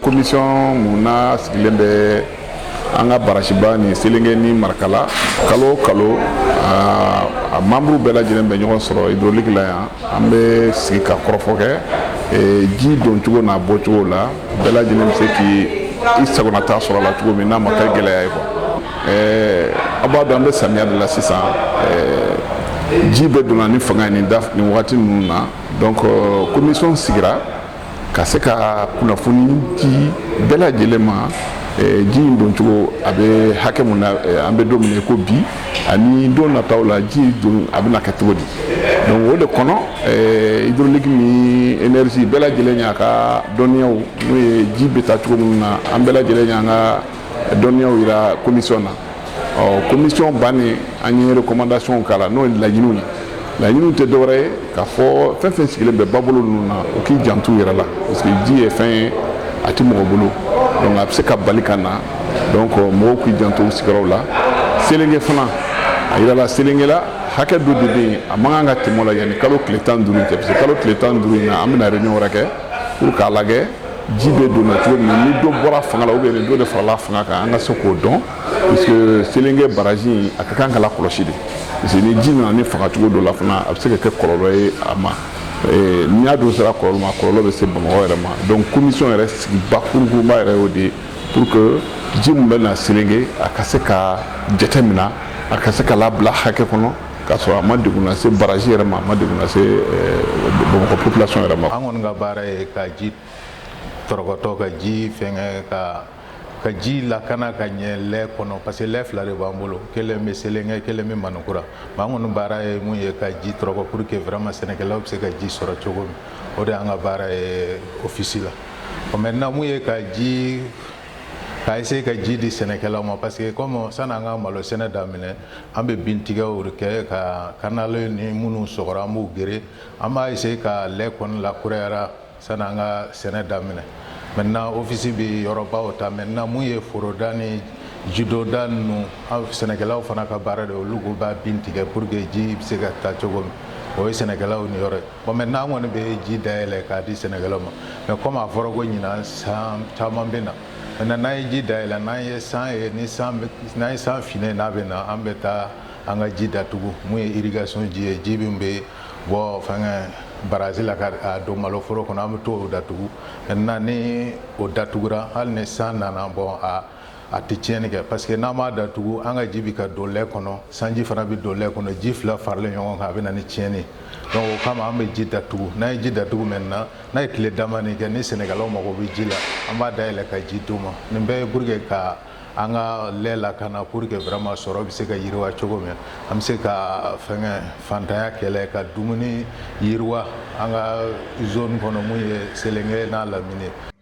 komisɔn mun na sigilen bɛ an ka barasiba ni selenge ni marakala kalo o kalo a membre bɛɛ lajɛlen bɛ ɲɔgɔn sɔrɔ hydraulique la yan an bɛ sigi ka kɔrɔfɔ kɛ ji don cogo n'a bɔ cogo la bɛɛ lajɛlen bɛ se k'i sagonata sɔrɔ a la cogo min n'a ma kɛ gɛlɛya ye quoi ɛɛ a b'a dɔn an bɛ samiya de la sisan ɛɛ ji bɛ donna ni fanga ye nin da nin waati ninnu na donc commission sigira ka se ka kunnafoni di bɛɛ lajɛlen ma ji in don cogo a bɛ hakɛ mun na an bɛ don min na ko bi ani don nataw la ji don a bɛna kɛ cogo di donc o de kɔnɔ ɛɛ hydraulique ni énergie bɛɛ lajɛlen y'a ka dɔnniyaw n'o ye ji bɛ taa cogo minnu na an bɛɛ lajɛlen y'an ka dɔnniyaw yira komisiyɔn na ɔ komisiyɔn bannen an ye rekomandasiyɔnw k'a la n'o ye laɲiniw ye laɲiniw tɛ dɔwɛrɛ ye k'a fɔ fɛn fɛn sigilen bɛ babolo ninnu na u k'i janto u yɛrɛ la parce que ji ye fɛn ye a tɛ mɔgɔ bolo donc a bɛ se ka bali ka na donc mɔgɔw k'i janto u sigiyɔrɔw la selenge fana a yirala selenge la hakɛ dɔ de bɛ yen a man kan ka tɛmɛ o la yanni kalo tile tan ni duuru cɛ parce que kalo tile tan ni duuru in na an bɛna réunion wɛrɛ kɛ pour k'a lajɛ ji bɛ donna cogo min ni dɔ bɔra fanga la ou bien ni dɔ de farala fanga kan an ka se k'o dɔn parce que selenge baraji a ka kan ka lakɔlɔsi de parce que ni ji nana ni fanga cogo dɔ la fana a bɛ se ka kɛ kɔlɔlɔ ye a ma ni a dun sera kɔlɔlɔ ma kɔlɔlɔ bɛ se bamakɔ yɛrɛ ma donc komisɔn yɛrɛ sigi bakuruba yɛrɛ y'o de ye pour que ji min bɛ na selenge a ka se ka jateminɛ a ka se ka labila hakɛ kɔnɔ K'a sɔrɔ a ma degun lase baraji yɛrɛ ma, a ma degun lase Bamakɔ population yɛrɛ ma. An kɔni ka baara ye ka ji tɔrɔkɔtɔ, ka ji fɛngɛ, ka ka ji lakana ka ɲɛ lɛ kɔnɔ parce que lɛ fila de b'an bolo, kelen bɛ Selenge, kelen bɛ Maninkura. Mais an kɔni baara ye min ye ka ji tɔrɔkɔ pour que vraiment sɛnɛkɛlaw bɛ se ka ji sɔrɔ cogo min, o de y'an ka baara ye office la. Bon maintenant mun ye ka ji k'a essayer ka ji di sɛnɛkɛlaw ma parce que comme sani an ka malo sɛnɛ daminɛ an bɛ bin tigɛw de kɛ ka kanali ni minnu sɔgɔra an b'u geren an b'a essayer ka lɛ kɔni lakurayara sani an ka sɛnɛ daminɛ maintenant ofisi bɛ yɔrɔbaw ta maintenant mun ye foroda ni jidonda ninnu sɛnɛkɛlaw fana ka baara de olu ko b'a bin tigɛ pour que ji bɛ se ka taa cogo min o ye sɛnɛkɛlaw niyɔrɔ ye Bon maintenant an kɔni bɛ ji dayɛlɛ k'a di sɛnɛkɛlaw ma mais comme a fɔra ko ɲinan san caman bɛ na maintenant n'an ye ji dayɛlɛ n'an ye san ye ni san bɛ n'an ye san finnen a bɛ na an bɛ taa an ka ji datugu mun ye irrigation ji ye ji min bɛ bɔ fɛngɛ barazi la ka a don maloforo kɔnɔ an bɛ t'o datugu maintenant ni o datugura hali ni san nana bon a a tɛ tiɲɛni kɛ parce que n'an m'a datugu an ka ji bɛ ka don lɛ kɔnɔ sanji fana bɛ don lɛ kɔnɔ ji fila faralen ɲɔgɔn kan a bɛ na ni tiɲɛni donc o kama an bɛ ji datugu n'an ye ji datugu maintenant n'a ye tile damanin kɛ ni sɛnɛkɛlaw mago bɛ ji la an b'a dayɛlɛ ka ji d'u ma nin bɛɛ ye pour que ka an ka lɛ lakana pour que vraiment sɔrɔ bɛ se ka yiriwa cogo min an bɛ se ka fɛngɛ fantanya kɛlɛ ka dumuni yiriwa an ka zone kɔnɔ mun ye selenge n'a lamini ye